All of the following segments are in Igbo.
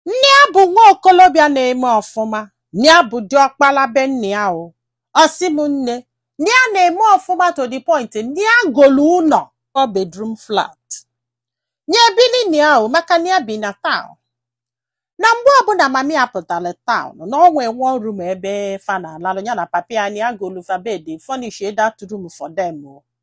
na ya bụ nwa okolobịa na-eme ọfụma na ya bụ diọkpala be nne ya o ọ sị m nne na ya na-eme ọfụma to the point na ya golu ụlọ four bedroom flat nya ebili nne ya o maka na ya bi na taụn na mgbe ọbụla mami ya pụtara taụn na o nwee one room ebe fa na-alalụ ya na papi ya na ya golu fa bed furnish that room for them o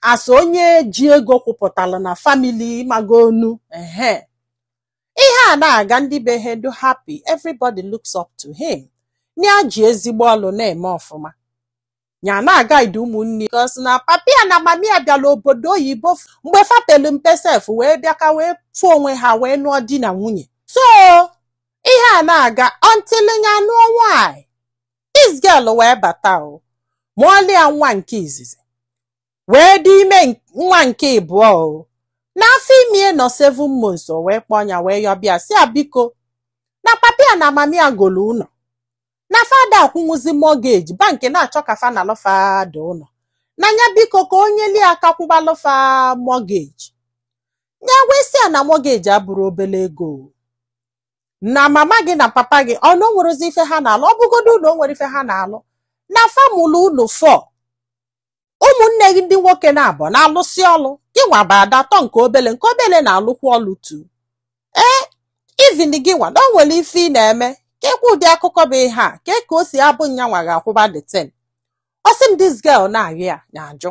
as onye ji ego kwụpụtala na famili ị magonụ ehe ihe a na-aga ndị be ha dụ happy everybody looks up to him ya ji ezigbo ọlụ na-eme ọfụma ya na-aguide ụmụnne cos na papi ya na mami ya bịala obodo oyibo f- mgbe fa pelu mpe sef wee bịa ka wee fụ onwe ha wee nụọ di na nwunye so ihe a na-aga until ya nụọ nwanyị this girl wee bata o mụọlụ ya nwa nke izizi wee dị ime nwa nke ịbụọ o n'afọ ime nọ seven months o wee kpọọ nya wee yọba ya sị ya biko na papa ya na mama ya golu ụlọ na fa ada akwụnwuzi mọgeji bankị na-achọ ka fa nalụ fa the ụlọ na ya biko ka o nyelu aka kwụbalụ fa mọgeji ya wee sị ya na mọgeji abụrọ obele ego na mama gị na papa gị o na o nwerọzi ife ha na-alụ ọ bụgodo na o nwerọ ife ha na-alụ na fa mụlụ unu four ụmụnne gị ndị nwoke naabọ na-alụsị ọlụ gị nwa bụ ada atọ nke obele nke obele na-alụkwa ọlụ too ee even gị nwa na o nwere ife ị na-eme kee kwa ụdị akụkọ bụ ihe a kee ka o si abụ nyanwa ga-akwụba the thing ọ sị m this girl na-arịọ ya na-ajụ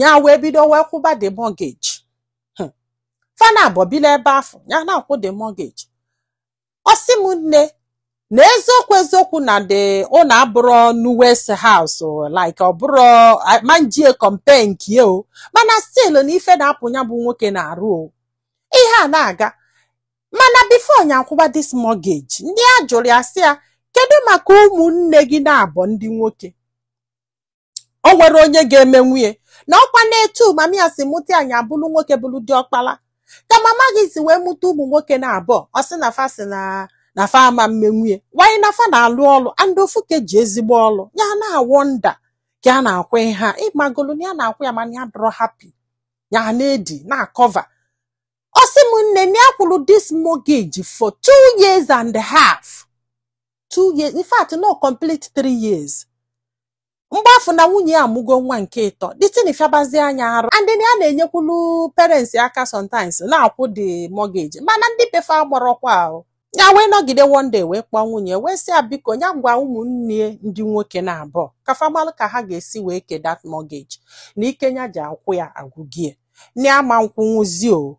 ya wee bido wee kwụba the mortgage hmm. fa naabọ bili ebe afụ ya na-akwụ the mortgage ọ sị m nne na eziokwu eziokwu na the ụlọ abụrọ newest house like ọ bụrụ ma m jie compare nke o mana still na ife na-apụ ya bụ nwoke n'arụ o ihe a na-aga mana before nya akwụba this mortgage na ya jụrụ ya sị ya kedu maka ụmụnne gị naabọ ndị nwoke o nwere onye ga-emenwu ya na ọ kwa na etu mami ya si mụta nya bụrụ nwoke bụrụ diọkpala ka mama gị si wee mụta ụmụ nwoke naabọ ọ sị na fa sị na na fa ama mmenwu ya while na fa na-alụ ọlụ and ofu ka eji ezigbo ọlụ ya na-awonder ka a na-akwụ ha ịmagolu na ya na-akwụ ya mana ya adọrọ happy ya na-edi na-akọva ọ sị m nne na ya kwụrụ this mortgage for two years and a half two years in fact no complete three years mgbe afụ na nwunye ya amụgo nwa nke ịtọ the thing fịabazi nya arụ and na ya na-enyekwulu parents aka sometimes na-akwụ the mortgage mana ndị be fa amarọkwa o ya wee nọgide one day wee kpọọ nwunye wee sị ya biko ya gwa ụmụnne ya ndị nwoke naabọ ka fa malụ ka ha ga-esi wee ke that mortgage na ike ya ji akwụ ya agwụgo ya na ya ama nkwụnwuzi o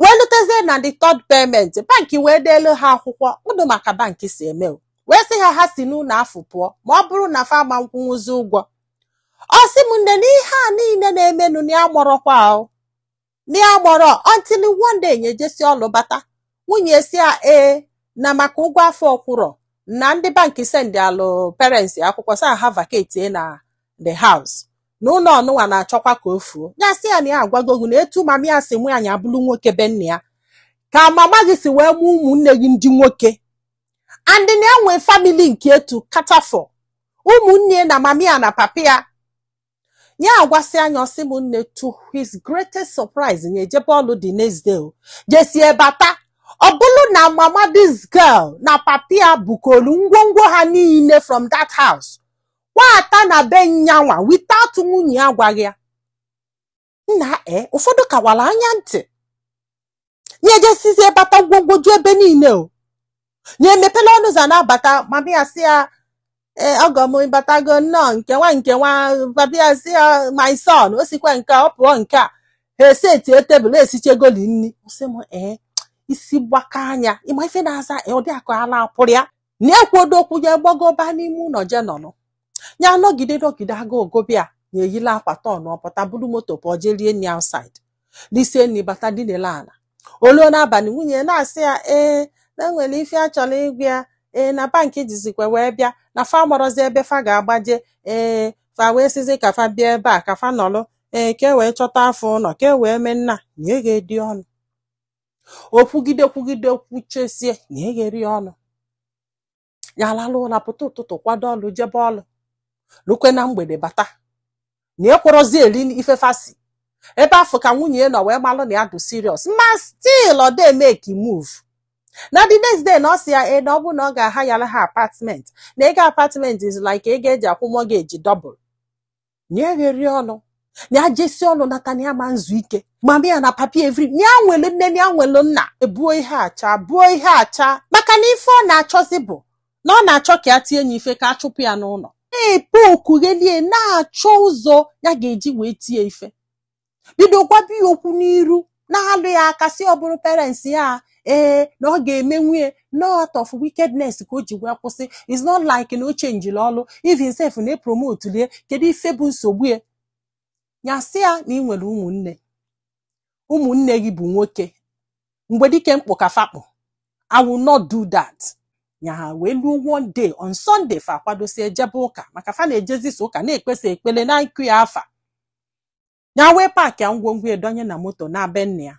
wee lutezie na the third payment banki wee deelu ha akwụkwọ ụdụ ma ka banki si eme o. wee sị ha ha si n'ụlọ afụ pụọ ma ọ bụrụ na fa ama nkwụnwụzi ụgwọ ọ sị m nne na ihe a niile na-emenụ na ya mọrọkwa ahụ na ya mọrọ until one day nya ejesi ọlụ bata nwunye ya sị ya ee na maka ụgwọ afụ ọ kwụrọ na ndị banki sendịalụ parents akwụkwọ sị ha vacate na the house na ụlọ ọnụnwa na-achọkwa ka o fuo ya sị ya na ya agwago gị na etu mama ya si mụ nya abụrụ nwoke be nna ya ka mama gị si wee mụ ụmụnne gị ndị nwoke and na ya nwe family nke ya to cater for ụmụnne na mama ya na papa ya ya agwasịa nya ọ sị m nne to his greatest surprise nya ejebe ọlụ the next day o jesie bata ọ bụrụ na mama this girl na papa ya bukolu ngwongwo ha niile from that house kwata na be nya nwa without nwunye ya agwaghị ya nna e ụfọdụ ka wara anya ntị nya ejesizie bata ngwongwo ju ebe niile o nya emepela ọnụ ụzọ na-abata ma bịa sị ya ee ọgọ m batago nnọọ nke nwa nke nwa ma bịa sị ya my son o sikwa nke a, ọ pụọ nke a ha esetie tebụl esichegoli nri ọ sị m ee isi gbakaa nya ị ma ife na-aza ee, ọ dị ka ala pụrụ ya na ekwurọ okwu ya gbagoba n'ime ụlọ je nọnụ ya anọgide nọgide agụụ gụba ya nya eyila akwa tọn ọpụta buru moto pụọ jee rie nri outside risie nri bata dinelu ala o luo n'abalị nwunye ya na-asị ya ee na e nwere ife a chọrọ ịgwa ya ee na banki jizikwa wee bịa na fa marọzi ebe fa ga-agbaje ee fa wee sịzi ka fa bịa ebe a ka fa nọrọ ee ka e wee chọtaa fa ụlọ ka e wee mee nna nya egherọ ya ọnụ o kwugide kwugide kwuchesie nya egherọ ya ọnụ ya alalụ ụla pụta ụtụtụ kwado ọlụ jebe ọlụ lukwe na mgbede bata nya ekwerọzi eri ife fa si ebe afụ ka nwunye ya nọ wee malụ na ya dụ serious ma still ọ dey make move na the next day na ọ sị ya ee na ọ bụ na ọ ga-ahayara ha apartment na ego apartment is like ego e ji akwụ mortgage double nya egherọ ya ọnụ na ya jesi ọlụ nata na ya ma nzu ike mama ya na papa ya every na ya nwelu nne na ya nwelu nna ebuo ihe acha buo ihe acha maka na ife ọ na-achọzi bụ na ọ na-achọ ka ya tie nya ife ka a chụpụ ya n'ụlọ na-epe okughelie na-achọ ụzọ ya ga-eji wee tie ife bido gwaba ya okwu n'iru na-alụ ya aka sị ọ bụrụ parents ya ee na ọ ga-eme nwunye out of wickedness ka o ji wee kwụsị it's not like na o chenjiri ọlụ even sef na e promotelu ya kedu ife bụ nsogbu ya ya sị ya na ị nwere ụmụnne ụmụnne gị bụ nwoke mgbe dike mkpụ ka fa kpụ I will not do that nya ha wee luo one day on Sunday fa akwadosi ejebe ụka maka fa na-ejezisa ụka na-ekpesa ekpele na nkụ ya afa nya wee paakị ngwongwo donye na moto naa be nne ya